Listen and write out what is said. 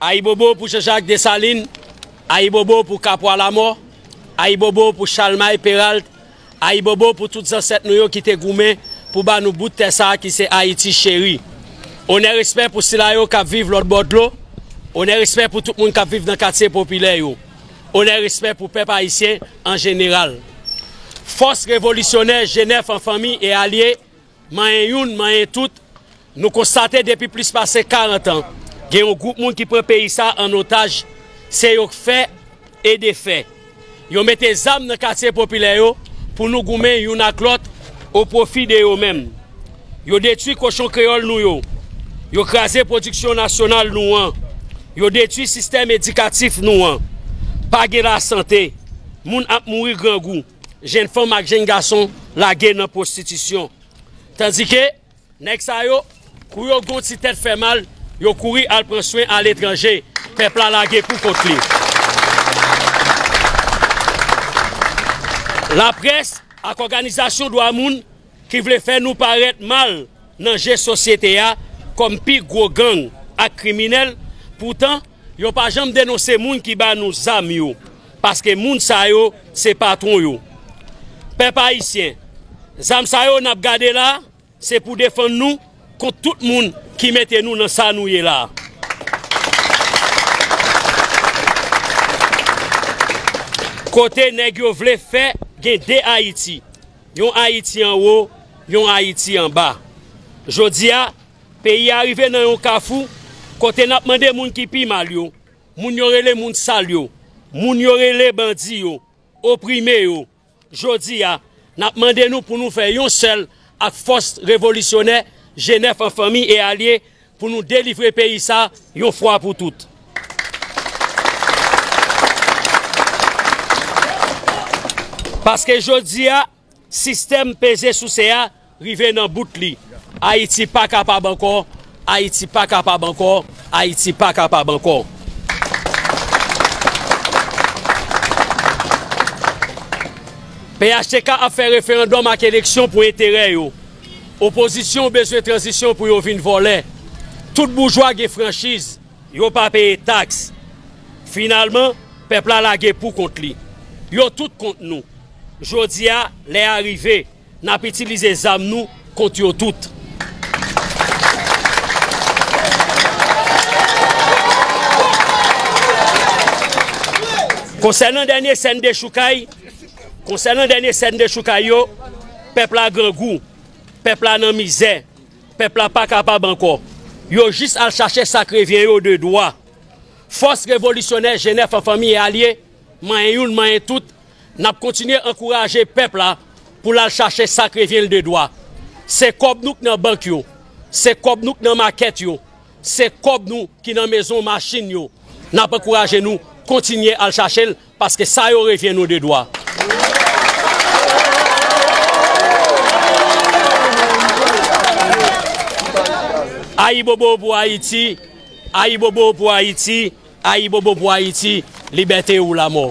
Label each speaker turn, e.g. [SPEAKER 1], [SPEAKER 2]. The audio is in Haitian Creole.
[SPEAKER 1] Ayibobo pou Janjak Desalin, ayibobo pou Kapwa Lamò, ayibobo pou Chalmay Peralt, ayibobo pou tout zansèt nou yo ki te goumen pou ba nou bout tè sa ki se Ayiti cheri. Onè respè pou sila yo k ap viv lòt bò dlo, onè respè pou tout moun k ap viv nan katye popilè yo, onè respè pou pèp ayisyen an jeneral. Fòs revolisyonè Jenèf an fanmi e alye Manyen youn, manyen tout, nou konstate depi plis pase 40 an, gen yon gwoup moun ki pran peyi sa a an otaj, se yo k fè e defè. Yo mete zam nan katye popilè yo pou nou goumen youn ak lòt o pwofi de yo menm. Yo detwi kochon kreyòl nou yo, yo kraze pwodiksyon nasyonal nou an, yo detwi sistèm edikatif nou an. Pa gen lasante, moun ap mouri grangou. jenn fanm ak jenn gason lage nan pwostitisyon. Tandike, nèg sa yo, kou yo gen yon ti tèt fè mal, yo kouri al pran swen aletranje. Pèp la lage pou kont li. Laprès ak òganizasyon dwa moun. ki vle fè nou parèt mal nan je sosyete a kòm pi gwo gang ak kriminèl, poutan yo pa janm denonse moun ki ba nou zam yo, paske moun sa yo se patwon yo. Pèp ayisyen, zam sa yo n ap gade la, se pou defann nou kont tout moun ki mete nou nan sa nou ye la a. Kote nèg yo vle fè gen 2 Ayiti? Yon Ayiti an wo, yon Ayiti an ba. Jodi a, peyi a rive nan yon kafou kote n ap mande moun ki pi mal yo, moun yo rele moun sal yo, moun yo rele bandi yo, oprime yo. Jodi a, n ap mande nou pou nou fè yon sèl ak fòs revolisyonè Jenèf an fanmi e alye Pou nou delivre peyi sa yon fwa pou tout. Paske jodi a sistèm peze souse a rive nan bout li. Ayiti pa kapab ankò, Ayiti pa kapab ankò, Ayiti pa kapab ankò. Phtk ap fè referandòm ak eleksyon pou enterè yo. Opozisyon bezwen tranzisyon pou yo vin vòlè. Tout boujwa gen franchiz, yo pa peye taks. Finalman, pèp la lage pou kont li. Yo tout kont nou. Jodi a, lè a rive, n ap itilize zam nou kont yo tout. Konsènan dènye sèn dechoukay. Konsènan dènye sèn dechoukay yo, pèp la grangou, pèp la nan mizè, pèp la pa kapab ankò. Yo jis al chache sa k revyen yo de dwa. Fòs revolisyonè Jenèf an fanmi e alye, manyen youn manyen tout, n ap kontinye ankouraje pèp la pou l al chache sa k revyen l de dwa. Se kòb nou k nan bank yo, se kòb nou k nan makèt yo, se kòb nou ki nan mezon machin yo, n ap ankouraje nou kontinye al chache l. Paske sa yo revyen nou de dwa. Ayibobo pou Ayiti, Ayibobo pou Ayiti, Ayibobo pou Ayiti, Libète ou lamò!